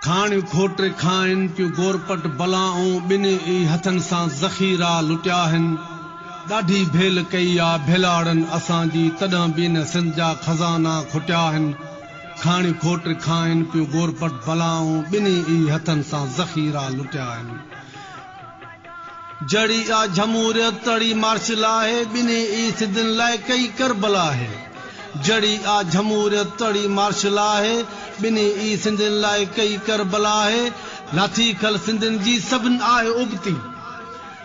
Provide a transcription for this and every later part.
کاڻيون کوٽري کائن پيون گورپٽ بلائون ٻنهي ئي هٿن سان ذخيرا لٽيا آهن ڏاڍي ڀيل ڪئي آ ڀيلاڙن اسان جي تڏهن به ان سنڌ جا خزانا کوٽيا آهن کاڻيون کوٽري کائن پيون گورپٽ بلائون ٻنهي ئي هٿن سان ذخيرا لٽيا آهن. جھڙي اھا جھموريت تھڙي مارشل آھي ٻنھي ئي سڌين لاء ڪئي ڪربلا آھي جھڙي اھا جھموريت تھڙي مارشل آھي ٻنھي ئي سنڌين لاء ڪئي ڪربلا آھي لاٿي کل سنڌين جي سڀن آھي ابتي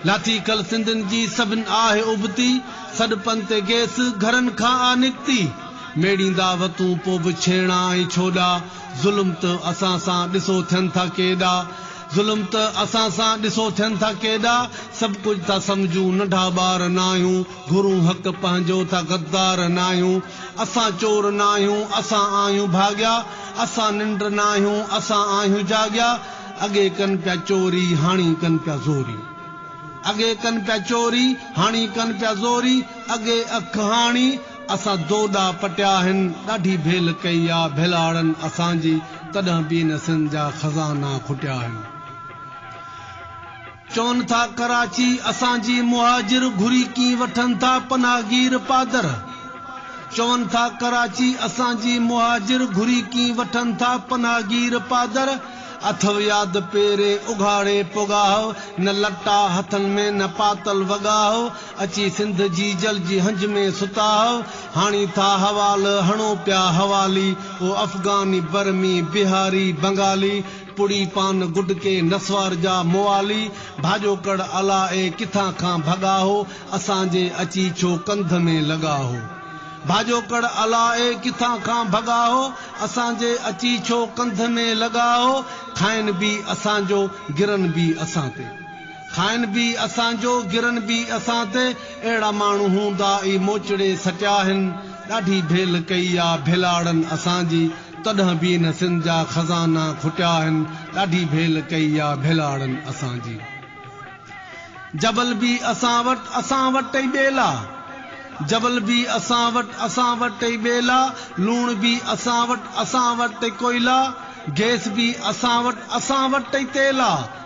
لاٿي کل سنڌين جي سڀن آھي ابتي سڏ پن تي گيس گھرن کان آ نڪتي ميڙيندا وتون پو به ڇيڻا ۽ ڇوڏا ظلم ته اسان سان ڏسو ٿين ٿا ڪيڏا. ظلم ته اسان سان ڏسو ٿين ٿا ڪيڏا سڀ ڪجهه ٿا سمجهون ننڍا ٻار ناهيون گهرون حق پنهنجو ته غدار ناهيون اسان چور ناهيون اسان آهيون ڀاڳيا اسان ننڊ ناهيون اسان آهيون جاڳيا اڳي ڪن پيا چوري هاڻي ڪن پيا زوري اڳي ڪن پيا چوري هاڻي ڪن پيا زوري اڳي اک هاڻي اسان دوڏا پٽيا آهن، ڏاڍي ڀيل ڪئي آ ڀيلاڙن اسان جي، تڏهن به ان سنڌ جا خزانا کٽيا آهن. چون ٿا ڪراچي اسان جي، مهاجر گهري ڪين وٺن ٿا پناهگير پادر. چون ٿا ڪراچي اسان جي، مهاجر گهري ڪين وٺن ٿا پناهگير پادر. اٿئو ياد پيرين اگهاڙي پوڳاهه، نه لٽا هٿن ۾ نه پاتل وڳاهه. اچي سنڌ جي جل جي هنج ۾ ستا هو هاڻي ٿا حوال هڻو پيا حوالي او افغاني برمي بهاري بنگالي پڙي پان گڊ ڪي نسوار جا موالي ڀاڄو ڪڙ الا اي ڪٿان کان ڀڳا هو اسان جي اچي ڇو ڪنڌ ۾ لڳا هو ڀاڄو ڪڙ الا اي ڪٿان کان ڀڳا هو اسان جي اچي ڇو ڪنڌ ۾ لڳا هو کائن به اسان جو گرن به اسان تي. کائن به اسان جو گرن به اسان تي اهڙا ماڻهو هوندا ئي موچڙي سٽيا آهن ڏاڍي ڀيل ڪئي آ ڀيلاڙن اسان جي تڏهن به ان سنڌ جا خزانا کٽيا آهن ڏاڍي ڀيل ڪئي آ ڀيلاڙن اسان جي جبل به اسان وٽ اسان وٽ ئي ٻيلا جبل به اسان وٽ اسان وٽ ئي ٻيلا لوڻ به اسان وٽ اسان وٽ ئي ڪوئلا گئس به اسان وٽ اسان وٽ ئي تيل آ.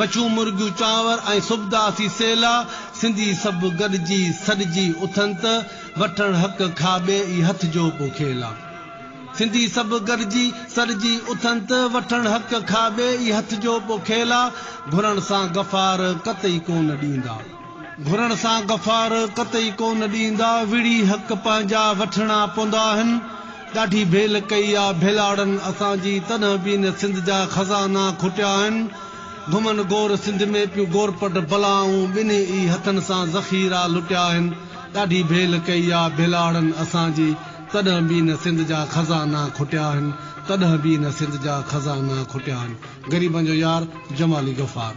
مڇون مرغيون چانور ۽ سبدا سي سيلا سنڌي سڀ گڏجي سڏجي اٿن ته وٺڻ حق کاٻي ئي هٿ جو پو کيلا سنڌي سڀ گڏجي سڏجي اٿن ته وٺڻ حق کاٻي ئي هٿ جو پو کيلا گهرڻ سان غفار قطعي ڪونه ڏيندا. گهرڻ سان غفار قطعي ڪونه ڏيندا وڙهي حق پنهنجا وٺڻا پوندا آهن. ڏاڍي ڀيل ڪئي آ ڀيلاڙن اسان جي تڏهن به ان سنڌ جا خزانا کوٽيا آهن گهمن گور سنڌ ۾ پيون گورپٽ بلائون ٻنهي ئي هٿن سان ذخيرا لٽيا آهن ڏاڍي ڀيل ڪئي آ ڀيلاڙن اسان جي تڏهن به ان سنڌ جا خزانا کوٽيا آهن تڏهن به ان سنڌ جا خزانا کوٽيا آهن غريبن جو يار جمالي غفار.